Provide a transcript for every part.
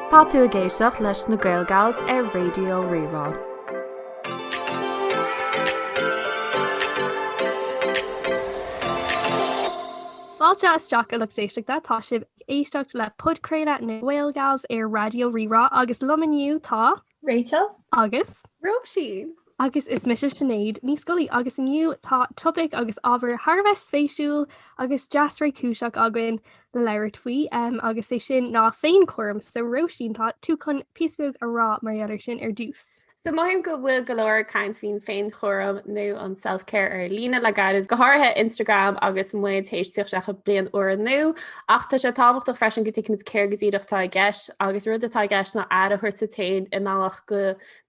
Tá tú ag éisteacht leis na Gaelgals ar Raidió Rí-Rá. Fáilte isteach a lucht éisteachta, tá sibh ag éisteacht le Podchraoladh na nGaelgals ar Raidió Rí-Rá agus liom inniu tá. Rachel. Agus. Róisín. Agus is mise Sinéad Ní Scolaí agus inniu tá topaic agus ábhar thar a bheith spéisiúil agus deas réchúiseach againn le labhairt faoi agus é sin ná féinchúram, so Róisín tá tú chun píosa beag a rá mar gheall air sin ar dtús. So mothaím go bhfuil go leor ag caint faoin féinchúram nó an self-care ar líne le gairid, go háirithe Instagram agus muid théis tíocht isteach i mbliain úr nua Ach tá sé tábhachtach freisin go dtuigfimid céard go díreach atá i gceist, agus rud atá i gceist ná aire a thabhairt duit féin i mbealach go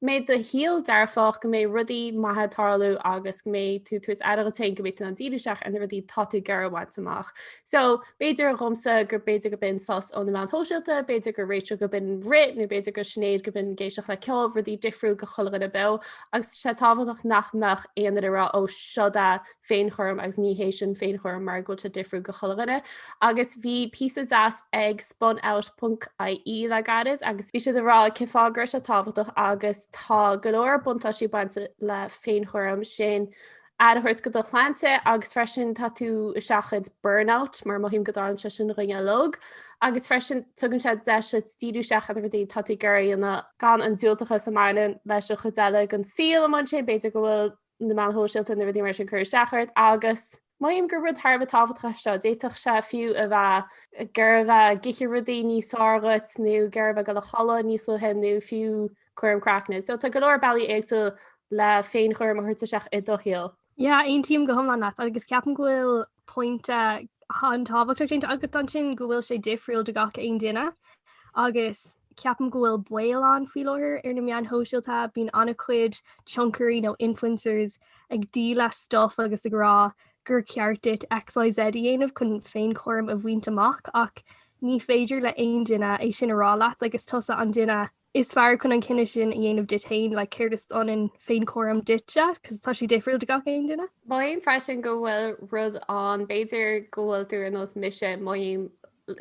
mbeidh do shaol dearfach, go mbeidh rudaí maithe ag tarlú agus go mbeidh tú tabhairt aire dhuit féin go mbeidh tú in ann díriú isteach ar na rudaí atá tú ag iarraidh a bhaint amach. So, b'fhéidir dhomsa gur b'fhéidir go b'in sos ó na meáin shóisialta, b'fhéidir do Rachel go b'in rith, nó b'fhéidir do Sinéad go b'in ag éisteacht le ceol, rudaí difriúil do chuile dhuine beo, agus tá sé tábhachtach nach mbeadh aon duine ag rá 'ó, seod é, féinchúram agus ní hé sin féinchúram mar go bhfuil sé difriúil go chuile dhuine. Agus bhí píosa deas ag spunout.ie le gairid agus bhí siad ag rá cé fáth go raibh sé tábhachtach agus tá go leor buntáistí bainte le féinchúram sin aire a thabhairt go do shláinte agus freisin tá tú ag seachaint burnout mar mothaím go dtarlaíonn sé sin dhúinn uilig agus freisin tugann sé deis duit díriú isteach ar rudaí atá tú ag iarraidh a dhéanamh gan an diúltachas a mbaineann leis an chuid eile den saol a mbaineann sé, b'fhéidir go bhfuil na meáin shóisialta nó rudaí mar sin ag cur isteach ort agus mothaím gur rud thar a bheith tábhachtach é seo. D'fhéadfadh sé fiú a bheith gurbh é ag ithe rudaí níos fearr dhuit nó gurbh é goil a chodladh níos luaithe nó fiú cúram craicne. So tá go leor bealaí éagsúil le féinchúram a thabhairt isteach i do shaol. Yeah, aontaím go hiomlán leat agus ceapaim go bhfuil pointe an-tábhachtach déanta agat ansin go bhfuil sé difriúil do gach aon duine agus ceapaim go bhfuil baol ann faoi láthair ar na meáin shóisialta, bíonn an-chuid tionchairí nó influencers ag díol stuff agus ag rá gur ceart duit XYZ a dhéanamh chun féinchúram a bhaint amach ach ní féidir le aon duine é sin a rá leat agus tusa an duine is fearr chun an cinneadh sin a dhéanamh duit féin, like céard is ionann féinchúram duitse, cos tá sé difriúil do gach aon duine. Mothaím freisin go bhfuil rud ann, b'fhéidir go bhfuil tú ar nós mise, mothaím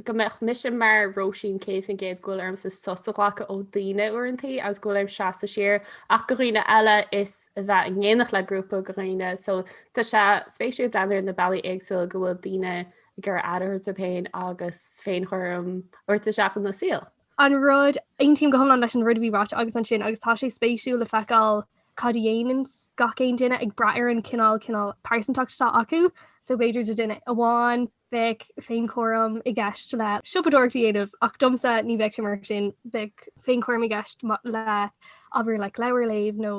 go mbeadh mise mar Róisín 100% go bhfuil ormsa sos a ghlacadh ó daoine uaireantaí agus go bhfuil orm seasamh siar ach go dhaoine eile is a bheith in éineacht le grúpa go dhaoine so tá sé spéisiúil breathnú ar na bealaí éagsúla go bhfuil daoine ag cur aire orthu féin agus féinchúram a thabhairt isteach ina saol. An rud, aontaím go hiomlán leis an rud a bhí á rá agat ansin agus tá sé spéisiúil le feiceáil cad a dhéananns gach aon duine ag brath ar an cineál cineál pearsantachta atá acu. So b'fhéidir do duine amháin bheadh féinchúram i gceist le siopadóireacht a dhéanamh ach domsa ní bheadh sé mar sin, bheadh féinchúram i gceist le abair like leabhar a léamh nó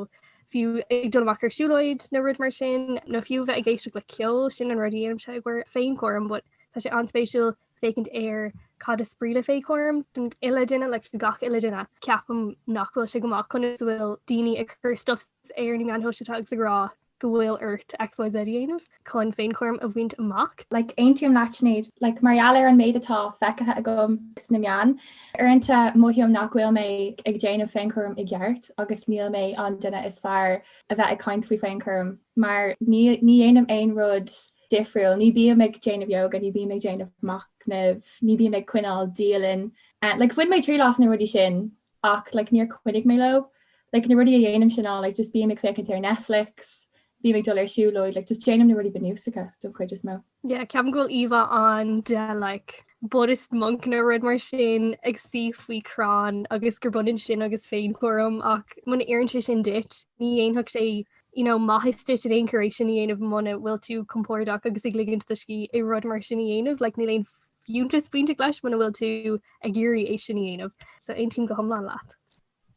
fiú ag dul amach ar siúlóid nó rud mar sin nó fiú a bheith ag éisteacht le ceol, sin an rud a dhéanaimse i gcomhair féinchúraim but tá sé an-spéisiúil. féachaint ar cad is brí le féinchúram don uile duine le gach uile duine. Ceapaim nach bhfuil sé go maith conas a bhfuil daoine ag cur stuff ar na meáin shóisialta agus ag rá go bhfuil ort XYZ a dhéanamh chun féinchúram a bhaint amach. Like, aontaím leat Sinéad. Like, mar gheall ar an méid atá feicthe agam sna meáin, uaireanta mothaím nach bhfuil mé ag déanamh féinchúram i gceart agus níl mé an duine is fearr a bheith ag caint faoi féinchúram mar ní dhéanaim aon rud difriúil. Ní bím ag déanamh yoga, ní bím ag déanamh machnamh, ní bím ag coinneáil dialann. Like bhain mé triail as na rudaí sin ach like níor choinnigh mé leo. Like na rudaí a dhéanaimse ná like just bím ag féachaint ar Netflix, bím ag dul ar siúlóid, like just déanaim na rudaí bunúsacha don chuid is mó. Yeah, ceapaim go bhfuil íomhá ann de like Buddhist monk nó rud mar sin ag suí faoi crann agus gur baineann sin agus féinchúram ach muna n-oireann sé sin duit, ní dhéanfadh sé you know, maitheas duit in aon chor é sin a dhéanamh muna bhfuil tú compordach agus ag ligint do scíth i rud mar sin a dhéanamh, like níl aon fiúntas bainteach leis muna bhfuil tú ag iarraidh é sin a dhéanamh. So aontaím go hiomlán leat.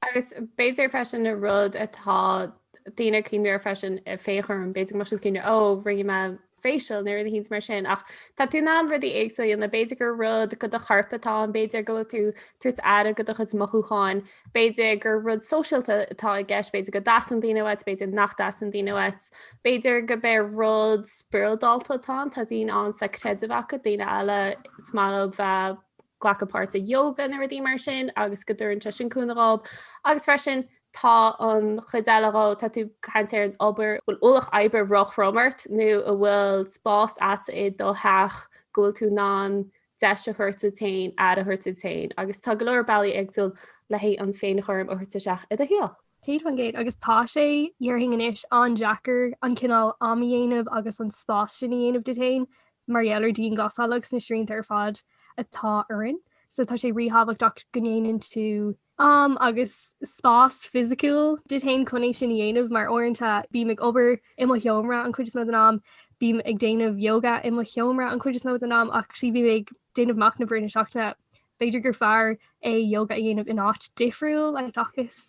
Agus b'fhéidir freisin an rud atá daoine ag cuimhneamh air freisin, féinchúram, b'fhéidir go mbeadh siad ag cuimhneamh, 'Ó, rinne mé facial nó rud eicínt mar sin ach tá tú in ann rudaí éagsúla a dhéanamh, b'fhéidir gur rud go do chorp atá ann, b'fhéidir go bhfuil tú tabhairt aire go do chuid mothúchán, b'fhéidir gur rud sóisialta atá i gceist, b'fhéidir go dtastaíonn daoine uait, b'fhéidir nach dtastaíonn daoine uait, b'fhéidir gurb é rud spioradálta atá ann, tá daoine ann is tá creideamh acu, daoine eile is maith leo bheith glacadh páirt i yoga nó rudaí mar sin agus go dtugann sé sin cúnamh dhóib agus freisin tá an chuid eile dhó, tá tú ag caint ar an obair, bhfuil ualach oibre róthrom ort nó a bhfuil spás a't i do theach go bhfuil tú in ann deis a thabhairt duit féin, aire a thabhairt duit féin agus tá go leor bealaí éagsúil le haghaidh an féin-chúram a thabhairt isteach i do shaol. Céad faoin gcéad, agus tá sé, dhéarfainn anois, an-deacair an cineál am a dhéanamh agus an spás sin a dhéanamh duit féin mar gheall ar dianghlasáil agus na srianta ar fad atá orainn so tá sé ríthábhachtach go ndéanann tú am agus spás fisiciúil duit féin chun é sin a dhéanamh, mar uaireanta bím ag obair i mo sheomra an chuid is mó den am, bím ag déanamh yoga i mo sheomra an chuid is mó den am ach sea, bhí mé ag déanamh machnamh i rith na seachtaine. B'fhéidir gur fearr é ióga a dhéanamh in áit difriúil seachas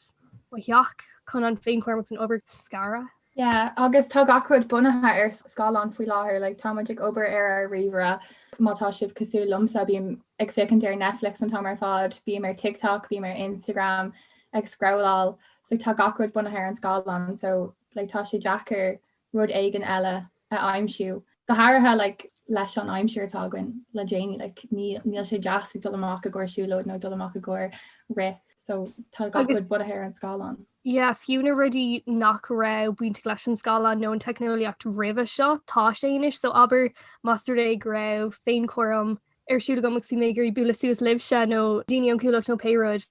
mo theach chun an féinchúram agus an obair a scaradh. Yeah, agus tá gach rud bunaithe ar scáileán faoi láthair, like tá muid ag obair ar ár ríomhaire, má tá sibh cosúil liomsa, bím ag féachaint ar Netflix an t-am ar fad, bím ar TikTok, bím ar Instagram ag scrolláil, so tá gach rud bunaithe ar an scáileán, so like tá sé deacair rud éigin eile a aimsiú, go háirithe like leis an aimsir atá againn le déanaí, like níl sé deas ag dul amach i gcomhair siúlóid nó ag dul amach i gcomhair rith, so tá gach rud bunaithe ar an scáileán. Yeah, fiú na rudaí nach raibh bainteach leis an scáileán nó an teicneolaíocht roimhe seo, tá sé anois, so abair, más rud é go raibh féinchúram ar siúl agam agus bhí mé ag iarraidh bualadh suas libhse nó daoine ón gcuallacht nó pé rud,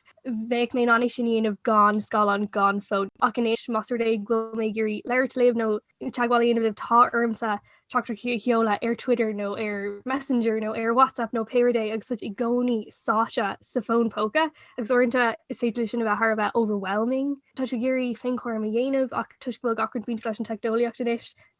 bheadh mé in ann é sin a dhéanamh gan scáileán, gan fón. Ach anois, más rud é go bhfuil mé ag iarraidh labhairt libh nó teagmháil a dhéanamh libh, tá ormsa téacs a sheoladh ar Twitter nó ar Messenger nó ar WhatsApp nó pé rud é agus tá tú i gcónaí sáite sa bhfón póca agus uaireanta is féidir leis sin a bheith thar a bheith overwhelming. Tá tú ag iarraidh féinchúram a dhéanamh ach toisc go bhfuil gach rud bainteach leis an teicneolaíocht anois,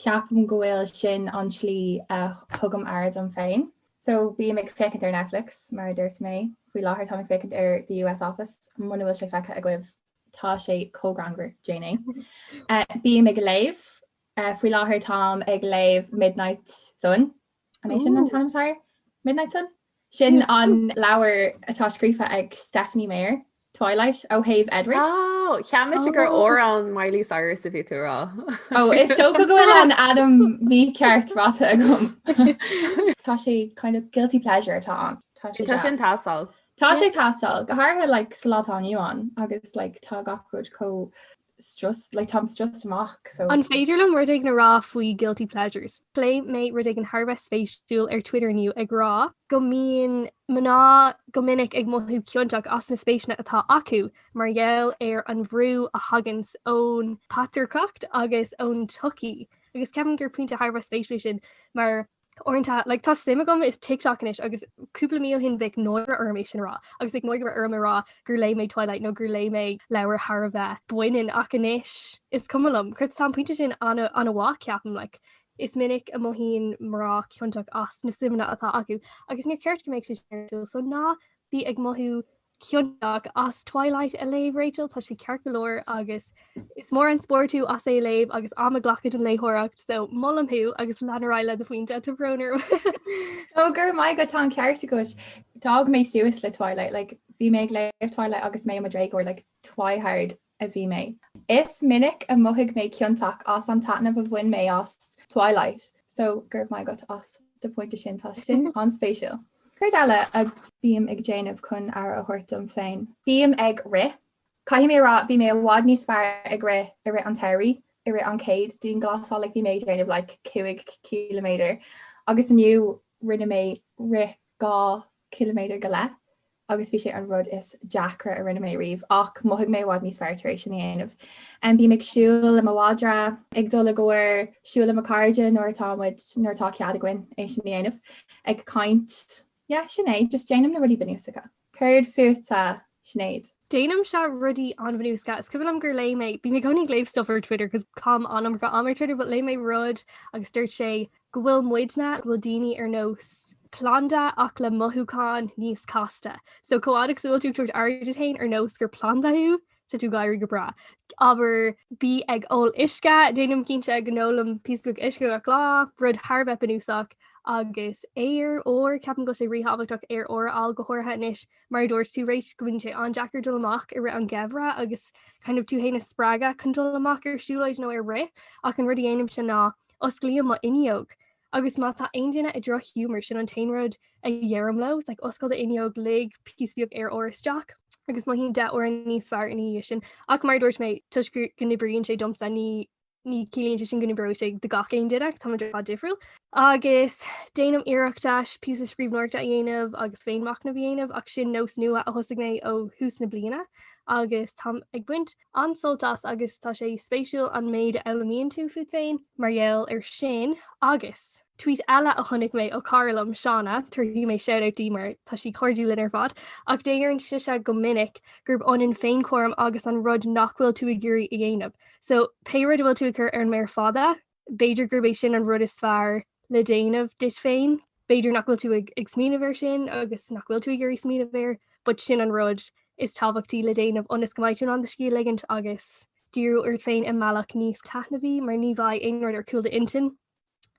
Ceapaim go bhfuil sin an tslí a thugaim aire dom féin. So, bím ag féachaint ar Netflix, mar a dúirt mé. Faoi láthair, táim ag féachaint ar The US Office, muna bhfuil sé feicthe agaibh, tá sé chomh greannmhar, déan é. Bím ag léamh. Faoi láthair, táim ag léamh Midnight Sun An é sin an t-ainm atá air Midnight Sun? Sin an leabhar atá scríofa ag Stephenie Meyer, Twilight, ó thaobh Edward. Ó, cheap mise gur amhrán Miley Cyrus a bhí tú a rá. Ó, oh, is dócha go bhfuil an t-ainm mícheart ráta agam. Tá sé kind of guilty pleasure atá ann. Tá sin ag teastáil. Tá sé ag teastáil, go háirithe like, sa lá atá inniu ann agus like, tá gach rud chomh It's just, like, táim stressed amach, so. An féidir liom rud éigin a rá faoi Guilty Pleasures? Léigh mé rud éigin thar a bheith spéisiúil ar Twitter inniu ag rá go mbíonn mná go minic ag mothú ciontach as na spéiseanna atá acu mar gheall ar an bhrú a thagann ón bpatrarcacht agus ón tsochaí agus ceapaim gur pointe thar a bheith spéisiúil é sin mar Uaireanta, like, tá suim agam in TikTok anois agus cúpla mí ó shin bheadh náire orm é sin a rá agus bheadh náire orm a rá gur léigh mé Twilight nó gur léigh mé leabhar thar a bheith baineann ach anois is cuma liom. Cinnte tá an pointe sin an-mhaith, ceapaim, like, is minic a mothaíonn mná ciontach as na suimeanna atá acu agus níor cheart go mbeadh sé sin ar siúl so ná bí ag mothú ciontach as Twilight a léamh, Rachel, tá sé ceart go leor agus is mór an spórt thú as é a léamh agus am a ghlacadh don léitheoireacht so molaim thú agus lean ar aghaidh le do phointe tá brón orm. Ó go raibh maith agat, tá an ceart agat. D'fhás mé suas le Twilight, like bhí mé ag léamh Twilight agus mé i mo dhéagóir like twihard. a bhí mé. Is minic a mhothaigh mé ciontach as an taitneamh a bhain mé as Twilight, so go raibh maith agat as do phointe sin, tá sin an-spéisiúil. Céard eile a bím ag déanamh chun aire a thabhairt dom féin? Bím ag rith. Caithfidh mé a rá, bhí mé i bhfad níos fearr ag rith i rith an tsamhraidh, i rith an chéad dianghlasáil, like bhí mé ag déanamh like cúig ciliméadar agus inniu rinne mé rith dhá ciliméadar go leith agus bhí sé an rud is deacra a rinne mé riamh ach mhothaigh mé i bhfad níos fearr tar éis sin a dhéanamh. Bím ag siúl le mo mhadra, ag dul i gcomhair siúil le mo cairde nuair atá muid, nuair atá cead againn é sin a dhéanamh, ag caint, yeah, sin é, just déanaim na rudaí bunúsacha. Céard fútsa, Sinéad? Déanaimse rudaí an-bhunúsacha. Is cuimhin liom gur léigh mé, bím i gcónaí ag léamh stuff ar Twitter cos caithim an iomarca am ar Twitter but léigh mé rud agus dúirt sé go bhfuil muidne, go bhfuil daoine ar nós planda ach le mothúcháin níos casta. So chomh fhad agus a bhfuil tú ag tabhairt aire duit féin ar nós gur planda thú, tá tú ag éirí go breá. Abair bí ag ól uisce, déanaim cinnte go n-ólaim píosa beag uisce gach lá, rud thar a bheith bunúsach. Agus aer úr, ceapaim go bhfuil sé ríthábhachtach aer úr a fháil go háirithe anois mar a dúirt tú, Rach, go bhfuil sé an-deacair dul amach i rith an gheimhreadh agus kind of tú féin a spreagadh chun dul amach ar siúlóid nó ar rith, ach an rud a dhéanaimse ná osclaím mo fhuinneog. Agus má tá aon duine i droch-ghiúmar, sin an t-aon rud a dheirim leo, it's like oscail do fhuinneog, lig píosa beag aer úr isteach, agus mothaíonn deich uaire níos fearr ina dhiaidh sin, ach mar a dúirt mé, toisc go n-oibríonn sé domsa, ní. ní ciallaíonn sé sin go n-oibreoidh sé do gach aon duine ach táimid ar fad difriúil. Agus déanaim iarracht píosa scríbhneoireachta a dhéanamh agus féinmhachnamh a dhéanamh ach sin nós nua a thosaigh mé ó thús na bliana agus táim ag baint an-sult as agus tá sé spéisiúil an méid a fhoghlaimíonn tú fút féin mar gheall air sin agus Tweet eile a chonaic mé ó cara liom, Shauna, tabharfaidh mé shout-out di mar tá sí cairdiúil linn ar fad, ach deireann sise go minic gurb ionann féinchúram agus an rud nach bhfuil tú ag iarraidh a dhéanamh. So, pé rud a bhfuil tú ag cur ar an méar fada, b'fhéidir gurb é sin an rud is fearr le déanamh duit féin. B'fhéidir nach bhfuil tú ag ag smaoineamh air sin agus nach bhfuil tú ag iarraidh smaoineamh air, but sin an rud is tábhachtaí le déanamh ionas go mbeidh tú in ann do scíth a ligint agus díriú ort féin i mbealach níos taitneamhaí mar ní bheidh aon rud ar cúl d'intinn.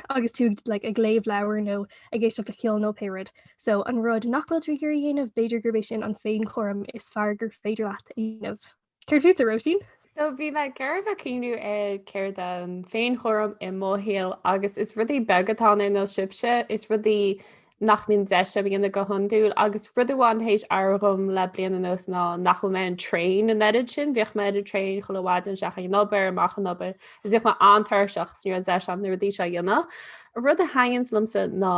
agus tú like, ag léamh leabhar nó ag éisteacht le ceol nó pé rud. So an rud nach bhfuil tú ag iarraidh a dhéanamh, b'fhéidir gurb é sin an féinchúram is fearr gur féidir leat a dhéanamh. Céard fútsa Róisín? So bhí mé ag iarraidh bheith ag cuimhniú ar céard an féinchúram i mo shaol agus is rudaí beaga atá ann ar nós sibhse, is rudaí nach mbíonn deis agam a dhéanamh go hiondúil agus rud amháin théis athrú dhom le bliain anuas ná nach bhfuil mé ar an traein an oiread sin, bhíodh mé ar an traein chuile mhaidin isteach ag an obair, amach ón obair agus bhíodh mé an-tuirseach agus ní raibh deis agam na rudaí seo a dhéanamh. An rud a thaitníonns liomsa ná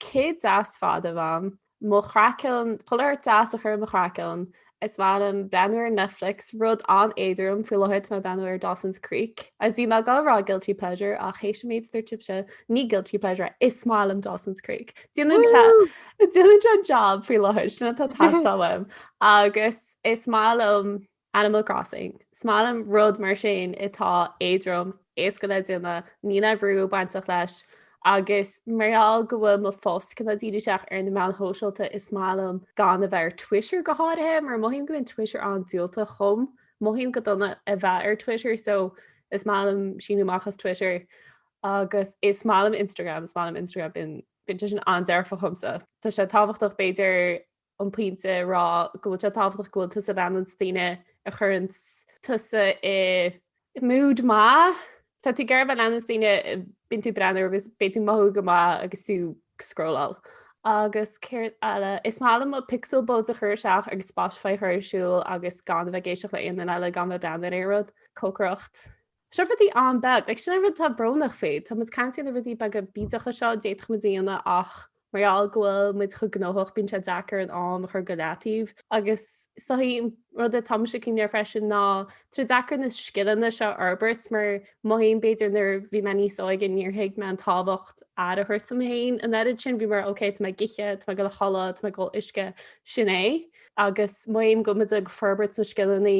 cith deas fada a bheith agam, mo chraiceann, chuile shórt deas a chur ar mo chraiceann, Is maith liom breathnú ar Netflix, rud an-éadrom faoi láthair, tá mé ag breathnú ar Dawson's Creek. Agus bhí mé ag goil a rá guilty pleasure, ach théis an méid a dúirt tusa, ní guilty pleasure é, is maith liom Dawson's Creek. Déanann sé an jab faoi láthair, sin atá ag teastáil uaim. Agus is maith liom Animal Crossing, is maith liom rud mar sin atá éadrom, éasca le déanamh, níl aon bhrú bainteach leis, Agus mar gheall go bhfuil mo phost cuma díireach ar na meáin shóisialta is maith liom gan a bheith ar Twitter go háirithe mar mothaím go mbíonn Twitter an-diúltach dhom. Mothaím go dona a bheith ar Twitter so is maith liom síniú amach as Twitter agus is maith liom Instagram, is maith liom Instagram, bíonn sé sin an-dearfach dhomsa. Tá sé tábhachtach b'fhéidir an pointe a rá go bhfuil sé tábhachtach go bhfuil tusa ag leanacht daoine a chuireanns tusa i mood maith. Tá tú ag iarraidh a bheith ag leanacht daoine a mbíonn tú ag breathnú orthu agus bíonn tú ag mothú go maith agus tú ag scrolláil. Agus céard eile? Is maith liom mo pixel buds a chur isteach agus Spotify a chur ar siúl agus gan a bheith ag éisteacht le aon duine eile gan a bheith ag breathnú ar aon rud. Cócaireacht. Seo rudaí an-bheag, agus sin an rud atá brónach faoi, tá muid ag caint ar na rudaí beaga bídeacha seo a d'fhéadfadh muid a dhéanamh ach mar gheall go bhfuil muid chomh gnóthach bíonn sé deacair an t-am a chur go leataobh agus suí. An rud a táimse ag cuimhneamh air freisin ná tá sé deacair na scileanna seo a fhorbairt mar mothaím b'fhéidir nuair a bhí mé níos óige níor thuig mé an tábhacht aire a thabhairt dom féin. An oiread sin bhí mé mar ok tá mé ag ithe, tá mé ag dul a chodladh, tá mé ag ól uisce, sin é. Agus mothaím go bhfuil muid ag forbairt na scileanna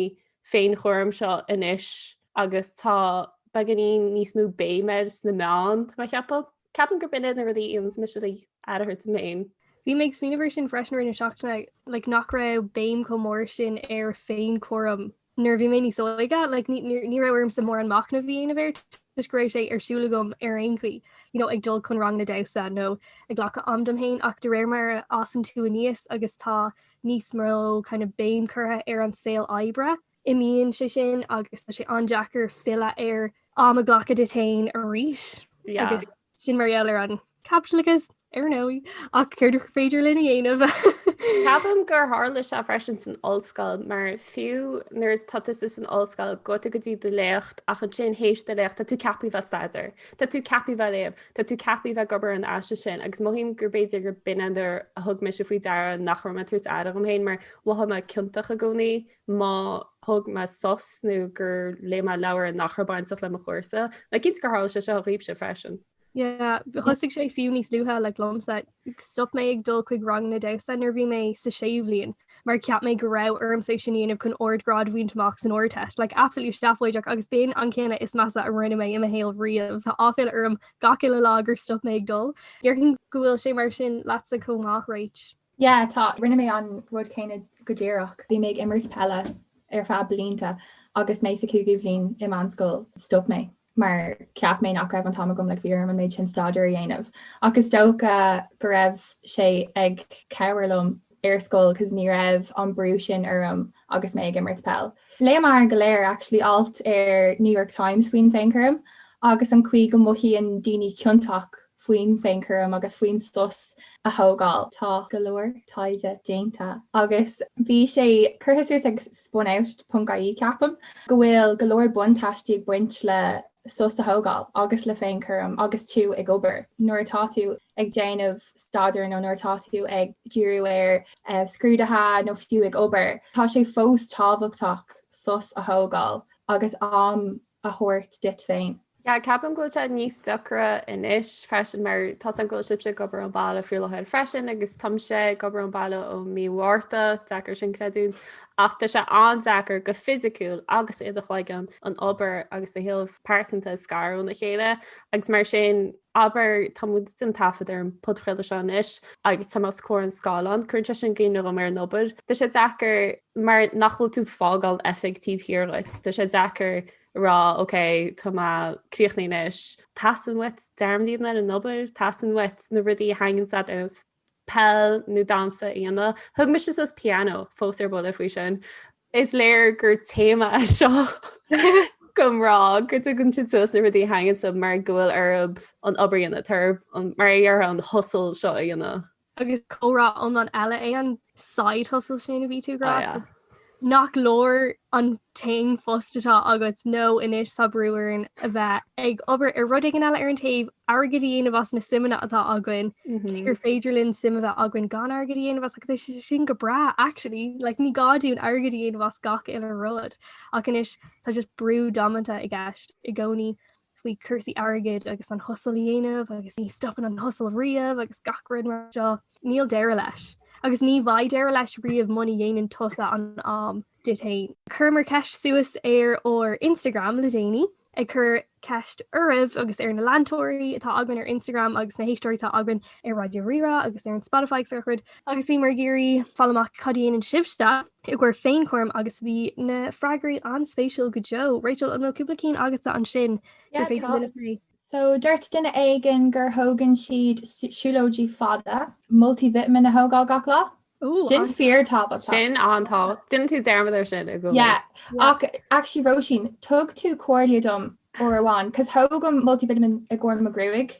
féinchúram seo anois agus tá beagáinín níos mó béim air sna meáin, tá mé ag ceapadh. Ceapaim gurb in iad na rudaí a dhéanas mise le aire a thabhairt dhom fhéin. Bhí mé ag smaoineamh ar sin freisin i rith na seachtaine, like, nach raibh béim chomh mór sin ar féinchúram nuair a bhí mé níos óige, like, ní raibh ormsa mórán machnamh a dhéanamh air toisc go raibh sé ar siúl agam ar aon chaoi, you know, ag dul chun ranganna damhsa nó ag glacadh am dom féin ach de réir mar a fhásann tú aníos agus tá níos mó kind of béim curtha ar an saol oibre. Imíonn sé sin agus tá sé an-deacair filleadh air am a ghlacadh duit féin arís. Yeah. Agus sin mar gheall ar an caipitleachas, ar ndóigh, ach céard is féidir linn a dhéanamh? Ceapaim gur tharla sé freisin san ollscoil mar fiú nuair tá tusa san ollscoil gabhann tú go dtí do léacht ach ansin théis do léacht tá tú ceaptha a bheith ag staidéar. Tá tú ceaptha a bheith ag léamh. Tá tú ceaptha a bheith ag obair ar an aiste sin, agus mothaím gurb fhéidir gur b'in é an uair a thug mise faoi deara nach raibh mé ag tabhairt aire dhom féin, mar mhothaigh mé ciontach i gcónaí má thug mé sos nó gur léigh mé leabhar nach raibh bainteach le mo chúrsa. Like cinnte gur tharla sé seo dhaoibhse freisin. Yeah, thosaigh sé fiú níos luaithe, like liomsa. Stop mé ag dul chuig rang na damhsa nuair bhí mé sa séú bhliain mar cheap mé go raibh ormsa sin a dhéanamh chun ardghrád a bhaint amach san Ardteist. Like, absolutely seafóideach agus b'in an cinneadh is measa a rinne mé i mo shaol riamh. Tá áiféala orm gach uile lá gur stop mé ag dul. Déarfainn go bhfuil sé mar sin leatsa chomh maith, right? Yeah, tá. Rinne mé an rud céanna go díreach. Bhí mé ag imirt peile ar feadh blianta agus mé sa chúigiú bhliain i meánscoil, stop mé. mar cheap mé nach raibh an t-am agam, like bhí orm an méid sin staidéir a dhéanamh, ach is dócha go raibh sé ag cabhair liom ar scoil cos ní raibh an brú sin orm agus mé ag imirt peil. Léamar go léir actually alt ar New York Times faoin bhféinchúram agus an chaoi go mothaíonn daoine ciontach faoin bhféinchúram agus faoin sos a thógáil. Tá go leor taighde déanta agus bhí sé curtha suas ag Spunout.ie, ceapaim, go bhfuil go leor buntáistí ag baint le sos a thógáil agus le féinchúram agus tú ag obair, nuair atá tú ag déanamh staidéir nó nuair atá tú ag díriú ar scrúduithe nó fiú ag obair. Tá sé fós tábhachtach sos a thógáil agus am a thabhairt duit féin. Yeah, ceapaim go bhfuil sé níos deacra anois freisin mar tá a fhios agam go bhfuil sibhse ag obair ón bhaile faoi láthair freisin agus táimse ag obair ón bhaile ó mí Mhárta, deacair é sin a chreidiúint ach tá sé an-deacair go fisiciúil agus i do chloigeann an obair agus do shaol pearsanta a scaradh óna chéile agus mar sin abair tá muid ag déanamh taifead ar an podchraoladh seo anois agus táim os comhair an scáileáin, cuireann sé sin i gcuimhne dhom ar an obair. Tá sé deacair. mar nach bhfuil tú ag fágáil oifig taobh thiar dhuit, tá sé deacair a rá ok tá mé críochnaithe anois, teastaíonn uait dearmad a dhéanamh ar an obair, teastaíonn uait na rudaí a thaitníonn leatsa ar nós peil nó damhsa a dhéanamh. Thug mise suas pianó fós ar buile faoi sin. Is léir gur téama é seo do mhná go dtugann siad suas na rudaí a thaitníonn leo mar go bhfuil orthu an obair a dhéanamh, mar a déarfá an hustle seo a dhéanamh. Agus comhrá iomlán eile é an side hustle sin a bhí tú ag rá. Ah, yeah. Nach leor an t-aon phost atá agat nó anois tá brú orainn a bheith ag obair ar rud éigin eile ar an taobh, airgead a dhéanamh as na suimeanna atá againn, cé gur féidir linn suim a bheith againn gan airgead a dhéanamh as, agus tá sé sin go breá, actually. Like, ní gá dúinn airgead a dhéanamh as gach uile rud. Ach anois, tá just brú damanta i gceist i gcónaí. faoi chúrsaí airgid agus an hustle a dhéanamh agus ní stopann an hustle riamh agus gach rud mar seo, níl deireadh leis. Agus ní bheidh deireadh leis riamh muna dhéanann tusa an am duit fhéin. Chuireamar ceist suas ar ár Instagram le déanaí ag cur ceist oraibh agus ar na leantóirí atá againn ar Instagram agus na héisteoirí atá againn ar Raidió Rí-Rá agus ar an Spotify agus araile agus bhíomar ag iarraidh fáil amach cad a dhéanann sibhse i gcomhair féinchúraim agus bhí na freagraí an-spéisiúil go deo. Rachel, an bhfuil cúpla ceann agatsa ansin gur féidir linn a phlé? So, dúirt duine éigin gur thógann siad siúlóidí fada, multivitamin a thógáil gach lá. Sin fíor tábhachtach. Sin an-tábhachtach. Deineann tú dearmad ar sin, i gcónaí. Yeah. Ach, actually, Róisín, thug tú comhairle dom uair amháin, 'cause thógaim multivitamin i gcomhair mo ghruaig.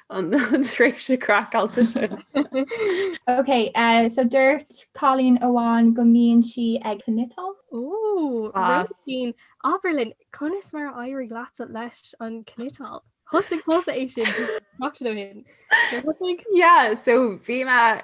an tréimhse craiceáilte sin. Ok, so dúirt cailín amháin go mbíonn sí ag cniotáil. Ooh, Róisín, abair linn, conas mar a d'éirigh leat leis an gcniotáil? Thosaigh tusa é sin seachtain ó shin. Yeah, so bhí mé...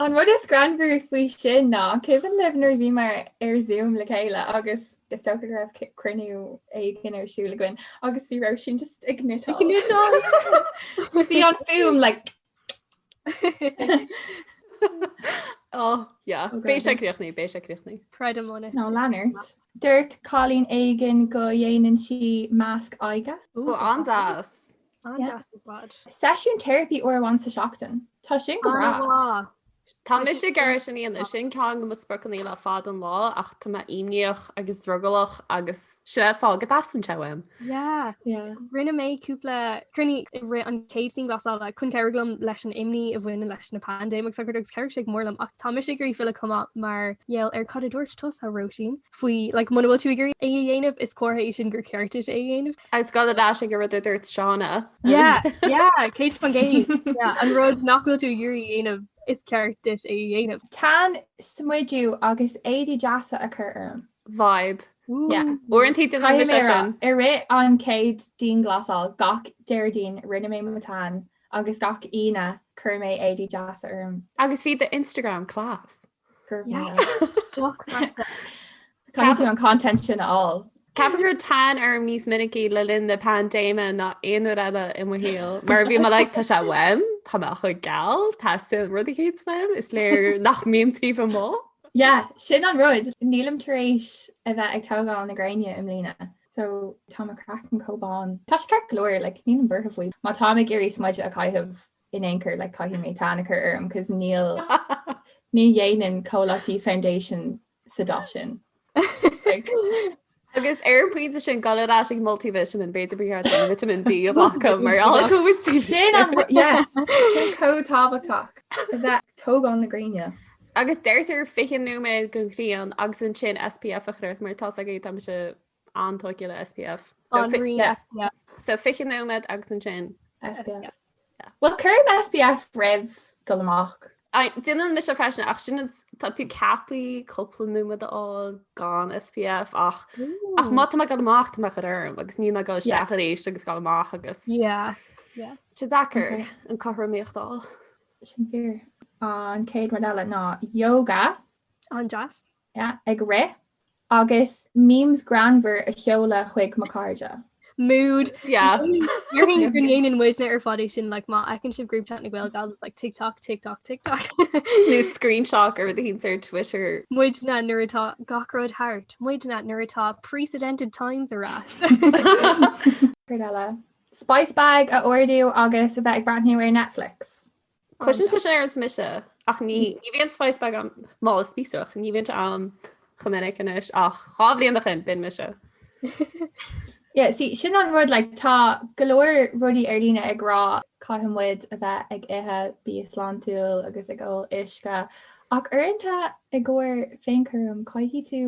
An rud is greannmhaire faoi sin ná an cuimhin libh nuair a bhíomar ar Zoom le chéile agus is dócha go raibh cruinniú éigin ar siúl againn agus bhí Róisín just ag cniotáil agus bhí an fhuaim like Oh yeah, oh, beidh sé críochnaithe, beidh sé críochnaithe. Creidim on it. Nó leanúirt. Dúirt cailín éigin go dhéanann sí masc aghaidhe. Ó, an-deas! Seisiún teiripí uair amháin sa seachtain. Tá sin go breá. Tá mise ag iarraidh sin a dhéanamh, sin ceann de mo spriocanna le fád an lá ach tá mé imníoch agus drogallach agus is é an fáth go dteastaíonn sé uaim. Yeah, yeah. Rinne mé cúpla cruinniú i rith an chéad dianghlasála chun cabhrú liom leis an imní a bhain leis an bpaindéim is araile agus chabhraigh sé go mór liom ach tá mise ag iarraidh filleadh chomh maith mar gheall ar cad a dúirt tusa, Róisín. faoi like, muna bhfuil tú ag iarraidh é a dhéanamh, is comhartha é sin gur cheart duit é a dhéanamh. Agus gurb é sin an rud a dúirt Shauna. Yeah, yeah, céad faoin gcéad. Yeah, an rud nach bhfuil tú ag iarraidh a dhéanamh, is ceart duit é a dhéanamh. Tan, smideadh agus éadaí deasa a chur orm. Vibe. Yeah. Uaireanta de bhrí mé sin. I rith an chéad dianghlasáil gach Déardaoin rinne mé mo tan agus gach Aoine chuir mé éadaí deasa orm. Agus bhí do Instagram class. Caithfidh tú an content sin a fháil. Chaith mé tan níos minicí le linn na paindéime ná aon uair eile i mo shaol, mar bhí mé like tá sé uaim, tá mé chomh geal, tá an rud céanna uaim is léir nach mbím taobh amuigh. Yeah, sin an rud, nílim tar éis a bheith ag tógáil na gréine i mbliana, so tá mo chraiceann chomh bán. Tá sé ceart go leor, like, nílim buartha faoi. Má táim ag iarraidh smideadh a chaitheamh, in aon chor like caithfidh mé tan a chur orm cos ní ní dhéanann comhlachtaí foundation sa dath sin like. Agus ar an pointe sin go mba leas ag multivitamin b'fhéidir ba cheart dúinn vitamin D a bhaic acu mar fhág tú is tú Sin an yes sin chomh tábhachtach a bheith ag tógáil na gréine. Agus deirtear 20 nóiméad de ghrian agus ansin SPF a chur ort mar tá a fhios ag éinne táimse an-tógtha le SPF. So, so 20 nóiméad agus ansin. SPF. Bhuel cuirim SPF roimh dul amach? Déanann mise freisin ach sin tá tú ceapaí cúpla nóiméad a fháil gan SPF ach ach má tá mé ag dul amach tá mé ag cur orm agus ní ag dul isteach arís agus ag dul amach agus tá sé deacair an chothromaíocht a fháil. Sin fíor an céad rud eile ná yoga an-deas. ag rith agus memes greannmhar a sheoladh chuig mo chairde. Mood, yeah. Déarfainn go ndéanann muidne ar fad é sin, like má fheiceann sibh group chat na Gaelgals, it's like TikTok, TikTok, TikTok. Nó screenshot ar things ar Twitter. Muidne nuair atá gach rud thart. Muidne nuair atá precedented times ar ais. Céard eile? Spice bag a ordú agus a bheith ag breathnú ar Netflix. Cloiseann sé sin ar nós mise, ach ní bhíonn an spice bag ann, mála spíosrach, ní bhíonn sé ann chomh minic anois, ach dhá bhliain ó shin, b'in mise. Yeah, sí, sin an rud, like, tá go leor rudaí ar líne ag rá caithfidh muid a bheith ag ithe bia sláintiúil agus ag ól uisce, ach uaireanta i gcomhair féinchúraim caithfidh tú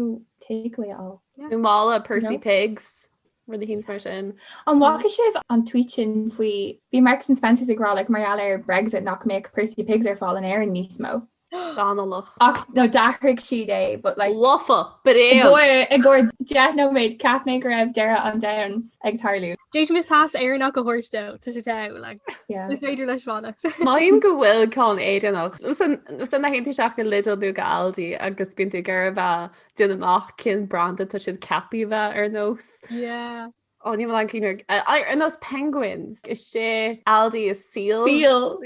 takeaway a fháil. Nó mála Percy Pigs. rud éicint mar sin. An bhfaca sibh an tweet sin faoi, bhí Marks and Spencers ag rá like mar gheall ar Brexit nach mbeadh Percy Pigs ar fáil in Éirinn níos mó. Scannalach. Ach nó d'athraigh siad é but like. Lofa! Bréan! I gcomhair deich nóiméad cheap mé go raibh deireadh an domhain ag tarlú. D'fhéadfaimis pas Éireannach a thabhairt dó, tá sé togha, like. Yeah. Is féidir leis fanacht. Mar a mbíonn ceann Éireannach. 'S ansin téann tú isteach go Lidl nó go Aldi agus bíonn tú ag iarraidh a déan amach cén branda tá siad ceapaí a bheith ar nós. Yeah. Ó bíonn ceann ar nós penguins is in Aldi is seal. Seal.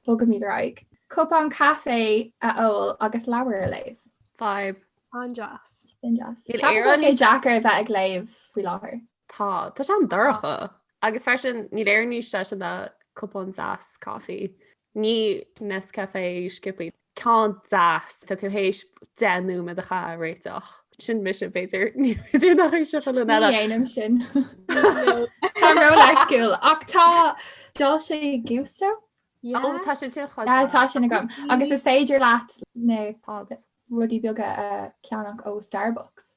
Bogaimid ar aghaidh. Cupán caifé a ól agus leabhar a léamh. Fab. An-deas. Sin deas. Nach bhfuil sé deacair a bheith ag léamh faoi láthair. Tá, tá sé an-dorcha. Agus freisin, níl aon rud níos deise ná cupán deas coffee. Ní Nescafé Skippy. Ceann deas, tá tú théis deich nóiméad a chaitheamh á réiteach. Sin mise, b'fhéidir. B'fhéidir nach é sin aon duine eile. Ní dhéanaim sin. Tá mé ró-leisciúil. Ach tá, Dolce Gusto? Yeah. Ó, tá sin. Tá sin agam. Agus is féidir leat na pods, rudaí beaga a cheannach ó Starbucks.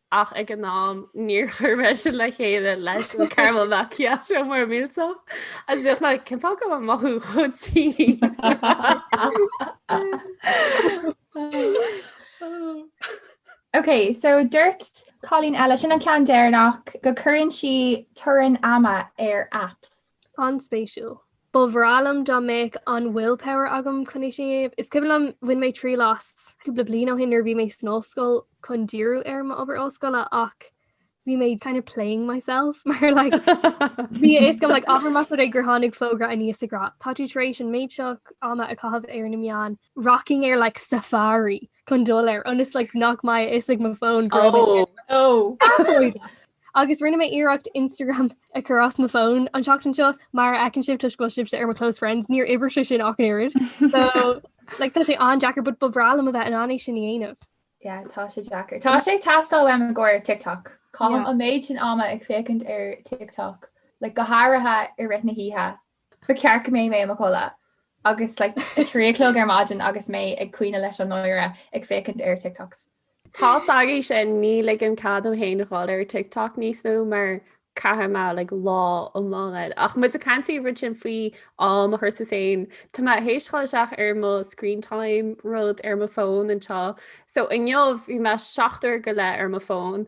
Ach ag an am, níor chuir mé sin le chéile leis an Caramel Macchiato mór millteach, agus bhíodh mé, 'Cén fáth go bhfuil mé ag mothú chomh tinn? Ok, so dúirt cailín eile, sin an ceann deireanach, go gcuireann sí teorainn ama ar apps. An-spéisiúil. Ba bhreá liom dá mbeadh an willpower agam chun é sin a dhéanamh. Is cuimhin liom, bhain mé triail as cúpla bliain ó shin nuair a bhí mé san ollscoil chun díriú ar m'obair ollscoile ach bhí mé kind of playing myself mar like bhí a fhios agam like abair má tá sé gur tháinig fógra aníos ag rá. Tá tú tar éis an méid seo ama a chaitheamh ar na meáin rocking ar like safari chun dul air ionas like nach mbeadh a fhios ag mo fón go raibh mé ag Ó! Athróidh! Agus rinne mé iarracht Instagram a chur as mo fón an tseachtain seo, mar a fheiceann sibh toisc go bhfuil sibhse ar mo close friends, níor oibrigh sé sin ach an oiread. So like tá sé an-deacair but ba bhreá liom a bheith in ann é sin a dhéanamh. Yeah tá sé deacair. Tá sé ag teastáil uaim i gcomhair TikTok. Caithim Yeah. an méid sin ama ag féachaint ar TikTok, like go háirithe i rith na hoíche Ba cheart go mbeadh mé i mo chodladh agus like a trí a chlog ar maidin agus mé ag caoineadh leis an ngáire ag féachaint ar TikToks. Tá's agaibh sin, ní ligim cead dom féin a dhul ar TikTok níos mó mar chaithfeadh mé like lá iomlán air. Ach muid ag caint faoi an rud sin faoi am a chur as féin, tá mé ag seiceáil isteach ar mo screen time rud ar mo fón anseo. So inniu bhí mé seacht uair go leith ar mo fón.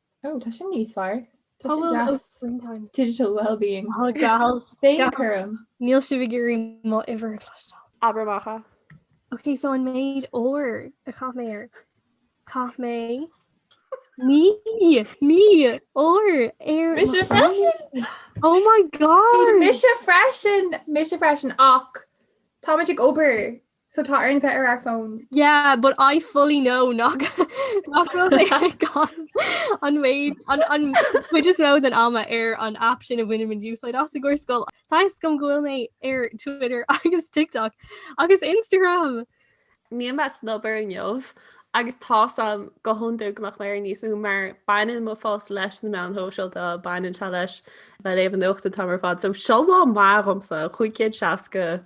Ó, tá sin níos fearr. Tá sé deas. Digital wellbeing. Ó gal. Féinchúram. Níl sibh ag iarraidh mo uimhir a chloisteáil. Abair amach é. Ok, so an méid uair a chaith mé ar. Chaith mé. Naoi! Naoi! Uair ar. Mise freisin! Oh my God! Mise freisin! Mise freisin, ach táimid ag obair So tá orainn bheith ar ár bhfón? Yeah, but I fully know nach nach bhfuil mé ag an an méid an an méid is mó den ama ar an app sin a bhainim úsáid as i gcomhair scoil. Tá's agam go bhfuil mé ar Twitter agus TikTok agus Instagram! Níl mé san obair inniu agus tá's a'm go hiondúil go mbeadh mé ar níos mó mar baineann mo phost leis na meáin shóisialta, baineann sé leis bheith léamh an nuacht atá ar fad. So seo lá maith dhomsa, 560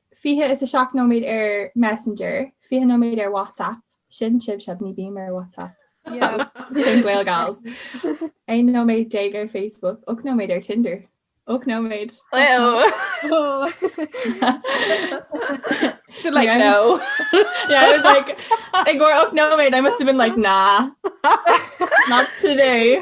27 nóiméad ar Messenger, 20 nóiméad ar WhatsApp, sin sibhse, ní bím ar WhatsApp, sin Gael Gals, 11 nóiméad ar Facebook, 8 nóiméad ar Tinder, 8 nóiméad! They're like, no! Yeah, I was like, ag bhfuair 8 nóiméad, I must have been like, nah, not today!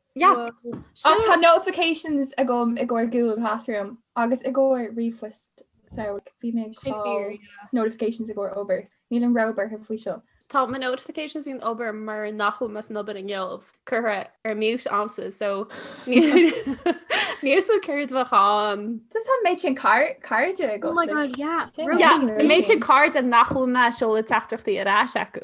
Ach tá notifications agam i gcomhair Google Classroom agus i gcomhair ríomhphost, so like bhí mé ag fáil notifications i gcomhair obair. Níl an obair thar faoi seo. Tá mo notifications faoin obair mar nach bhfuil mé san obair inniu curtha ar mute a'msa, so níl a fhios agam céard bheadh ann. Just tá an méid sin cairde agam. Oh my god, yeah. Yeah, an méid sin cairde nach bhfuil mé ag seoladh teachtaireachtaí ar ais acu.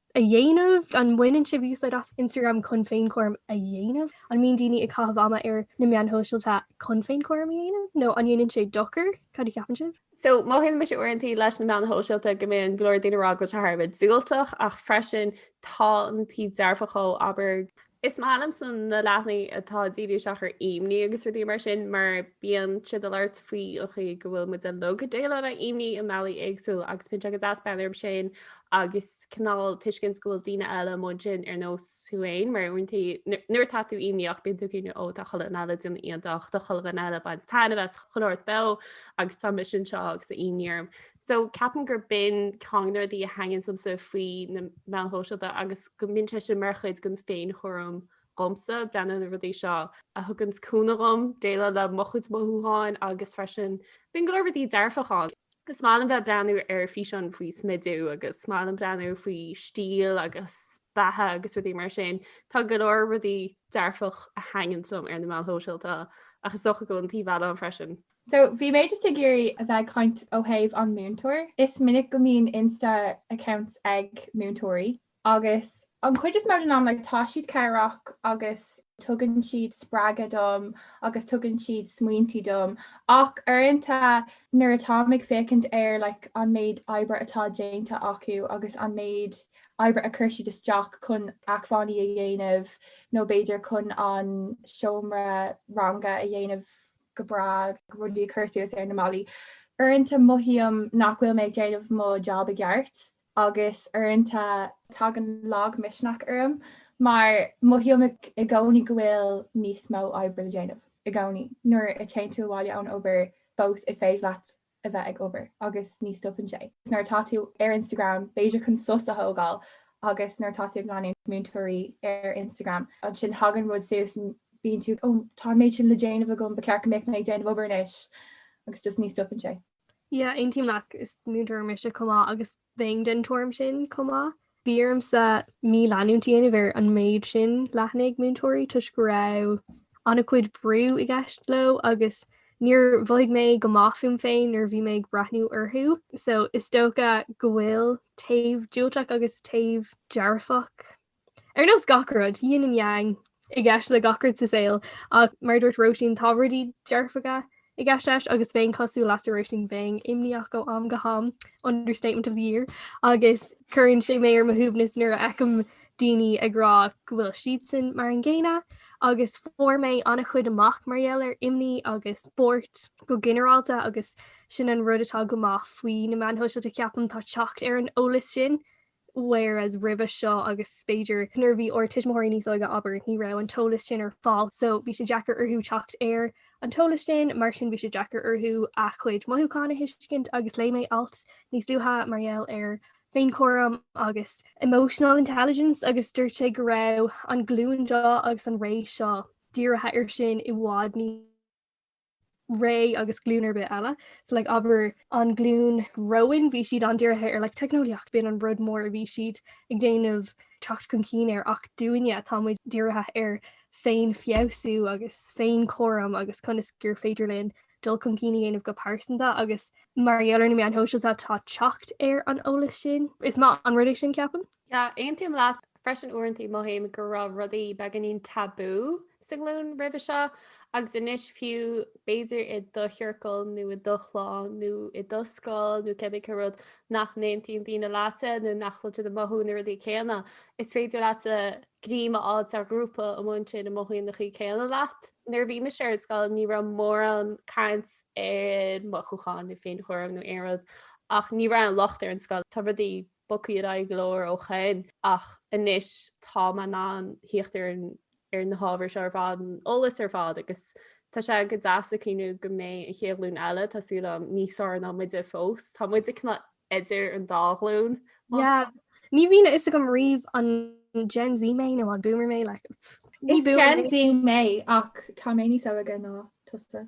a dhéanamh? An mbaineann sibh úsáid as Instagram chun féinchúram a dhéanamh? An mbíonn daoine ag caitheamh ama ar na meáin shóisialta chun féinchúram a dhéanamh, nó an ndéanann sé dochar? Cad a cheapann sibh? So, mothaíonn mise uaireanta leis na meáin shóisialta go mbíonn go leor daoine ag rá go bhfuil sé thar a bheith diúltach, ach freisin tá an taobh dearfach dhó, abair, Is maith liomsa na leathanaigh atá ag díriú isteach ar imní agus rudaí mar sin mar bíonn siad ag labhairt faoi an chaoi go bhfuil muid uilig ag déileáil le himní i mbealaí éagsúla agus bíonn sé go deas breathnú orthu sin agus cineál tuiscint go bhfuil daoine eile amuigh ansin ar nós thú fhéin mar uaireantaí nuair atá tú imníoch bíonn tú ag cuimhneamh ó tá chuile dhuine eile déanamh iontach tá chuile dhuine eile baint taitnimh as chuile shórt beo agus tá mise anseo agus tá imní orm. So ceapaim gurb in ceann de na rudaí a thaitníonns liomsa faoi na meáin shóisialta agus go mbíonn sé sin mar chuid den féinchúram dhomsa breathnú na rudaí seo a thuganns cúnamh dhom déileáil le mo chuid mothúcháin agus freisin bíonn go leor rudaí dearfach ann. Is maith liom bheith ag breathnú ar físeáin faoi smidiú agus is maith liom breathnú faoi stíl agus beatha agus rudaí mar sin. Tá go leor rudaí dearfach a thaitníonns liom ar na meáin shóisialta ach is dócha go bhfuil an taobh eile ann freisin. So bhí mé just ag iarraidh a bheith ag caint ó thaobh an múinteoir. Is minic go mbíonn Insta accounts ag múinteoirí agus an chuid is mó den am like tá siad cabhrach agus tugann siad spreagadh dom agus tugann siad smaointe dom ach uaireanta nuair atáim ag féachaint ar like an méid oibre atá déanta acu agus an méid oibre a chuir siad isteach chun acmhainní a dhéanamh nó b'fhéidir chun an seomra ranga a dhéanamh go breá agus rudaí a chur suas ar na mballaí. Uaireanta mothaím nach bhfuil mé ag déanamh mo job i gceart agus uaireanta tagann lagmhisneach orm mar mothaím i gcónaí go bhfuil níos mó oibre le déanamh. I gcónaí nuair a téann tú abhaile ón obair fós is féidir leat a bheith ag obair agus ní stopann sé. Nuair atá tú ar Instagram, b'fhéidir chun sos a thógáil agus nuair atá tú ag leanúint múinteoirí ar Instagram, ansin thagann rud suas and bíonn tú oh tá an méid sin le déanamh agam, ba cheart go mbeadh mé ag déanamh obair anois agus just ní stopann sé. Yeah, aontaím leat, is múinteoir mise chomh maith agus bheinn den tuairim sin chomh maith. Bhí ormsa mí-leanúint a dhéanamh ar an méid sin leathanaigh múinteoirí toisc go raibh an-chuid brú i gceist leo agus níor mhothaigh mé go maith fúm féin nuair a bhí mé ag breathnú orthu. So is dócha go bhfuil taobh diúltach agus taobh dearfach Ar nós gach rud, yin and yang i gceist le gach rud sa saol, ach mar a dúirt Róisín, tá rudaí dearfacha i gceist leis agus bheinn cosúil leatsa Róisín, bheinn imníoch ó am go ham, understatement of the year, agus cuireann sé mé ar mo shuaimhneas nuair a fheicim daoine ag rá go bhfuil siadsan mar an gcéanna, agus fuair mé an-chuid amach mar gheall ar imní agus spórt go ginearálta agus sin an rud atá go maith faoi na meáin shóisialta ceapaim, tá teacht ar an eolas sin. whereas roimhe seo agus b'fhéidir nuair a bhí ár tuismitheoirí níos óige abair, ní raibh an t-eolas sin ar fáil so bhí sé deacair orthu teacht ar an t-eolas sin mar sin bhí sé deacair orthu a chuid mothúchán a thuiscint agus léigh mé alt níos luaithe mar gheall ar féinchúram agus emotional intelligence agus dúirt sé go raibh an glúin seo agus an ré seo dírithe ar sin i bhfad níos ré agus glúin ar bith eile. So like abair an glúin romhainn bhí siad an-dírithe ar like teicneolaíocht, b'in an rud mór a bhí siad ag déanamh teacht chun cinn air ach dúinne tá muid dírithe ar féinfheabhsú agus féinchúram agus conas gur féidir linn dul chun cinn a dhéanamh go pearsanta agus mar gheall ar na meáin shóisialta tá teacht ar an eolas sin. Is maith an rud é sin, ceapaim. Yeah, aontaím leat. Freisin uaireantaí mothaím go raibh rudaí beagáinín tabú sa nglúin roimhe seo agus anois fiú b'fhéidir i do chiorcal nó i do chlann nó i do scoil nó cibé cén rud nach n-aontaíonn daoine leatsa nó nach bhfuil siad ag mothú na rudaí céanna, is féidir leatsa greim a fháil ar ghrúpa a mbíonn siad ag mothú na rudaí céanna leat. Nuair a bhí mise ar scoil ní raibh mórán caint ar mhothúcháin nó féinchúram nó aon rud ach ní raibh aon locht ar an scoil. Tá rudaí. bogtha ar aghaidh go leor ó shoin, ach anois tá mé in ann thíocht ar na hábhair seo ar fad, an t-eolas ar fad agus tá sé go deas ag cuimhneamh go mbeidh an chéad ghlúin eile, tá súil agam, níos fearr ná muide fós. Tá muide cineál idir an dá ghlúin. Yeah. Ní bhíonn a fhios agam riamh an Gen Z mé nó an boomer mé le Is Gen Z mé ach tá mé níos óige ná tusa.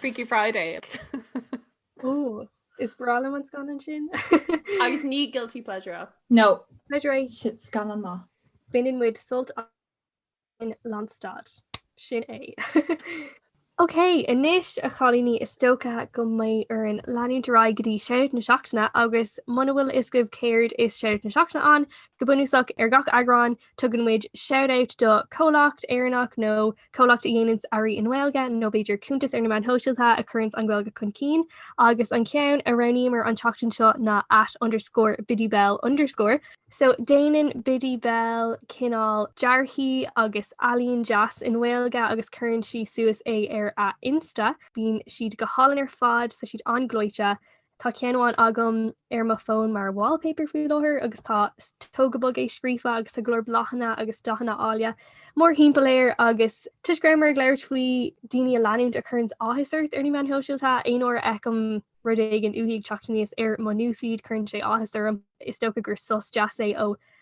Freaky Friday. Ó, is breá liom an scannán sin. Agus ní guilty pleasure é. No. Pleasure. Is scannán maith é. Baineann muid sult as, lánstad. Sin é. OK, anois a chailíní is dócha go mbeidh orainn leanúint ar aghaidh go dtí shout out na Seachtaine agus muna bhfuil a fhios agaibh céard is shout out na Seachtaine ann, go bunúsach ar gach eagrán, Tugann muid shout out do chomhlacht Éireannach nó comhlacht a dhéananns earraí i nGaeilge nó b'fhéidir cuntas ar na meáin shóisialta a chuireanns an Ghaeilge chun cinn agus an ceann a roghnaíomar an tseachtain seo ná at underscore biddybell underscore so déanann Biddy Bell cineál dearthaí agus ealaín deas i nGaeilge agus cuireann sí suas é ar a Insta. Bíonn siad go hálainn ar fad tá siad an-ghleoite. Tá ceann amháin agam ar mo fón mar wallpaper faoi láthair agus tá tóg go bog é scríofa agus tá go leor bláthanna agus dathanna áille mórthimpeall air agus toisc go rabhamar ag labhairt faoi daoine a leanúint a chuireanns áthas ort ar na meáin shóisialta, aon uair a fheicim rud éigin uaithi ag teacht aníos ar mo newsfeed cuireann sé áthas orm. Is dócha gur sos deas é ó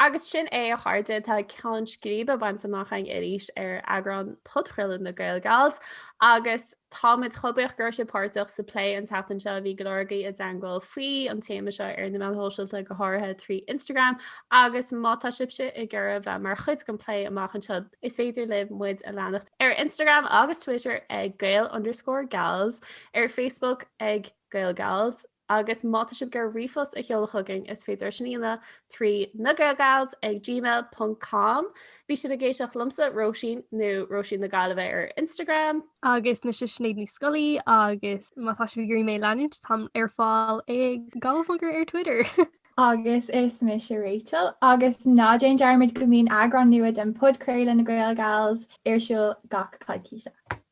Agus sin é a chairde, tá ceann scríbe bainte amach againn arís ar eagrán podchraoladh na Gaelgals agus táimid chomh buíoch go raibh sibh páirteach sa plé an tseachtain seo bhí go leor agaibh i dteagmháil faoi an téama seo ar na meáin shóisialta go háirithe trí Instagram agus má tá sibhse ag iarraidh bheith mar chuid den plé amach anseo is féidir libh muid a leanacht ar Instagram agus Twitter ag Gael_Gals ar Facebook ag Gaelgals. Agus má tá sibh ag iarraidh ríomhphost a sheoladh chugainn, is féidir é sin a dhéanamh trí nagaelgals ag gmail ponc com. Bhí sibh ag éisteacht liomsa, Róisín, nó Róisín na Gaillimhe ar Instagram. Agus mise Sinéad Ní Scolaí, agus má tá sibh ag iarraidh mé a leanúint, táim ar fáil ag galwifilter ar Twitter. Agus is mise Rachel, agus ná déan dearmad go mbíonn eagrán nua den podchraoladh, Na Gaelgals, ar siúl gach coicíse.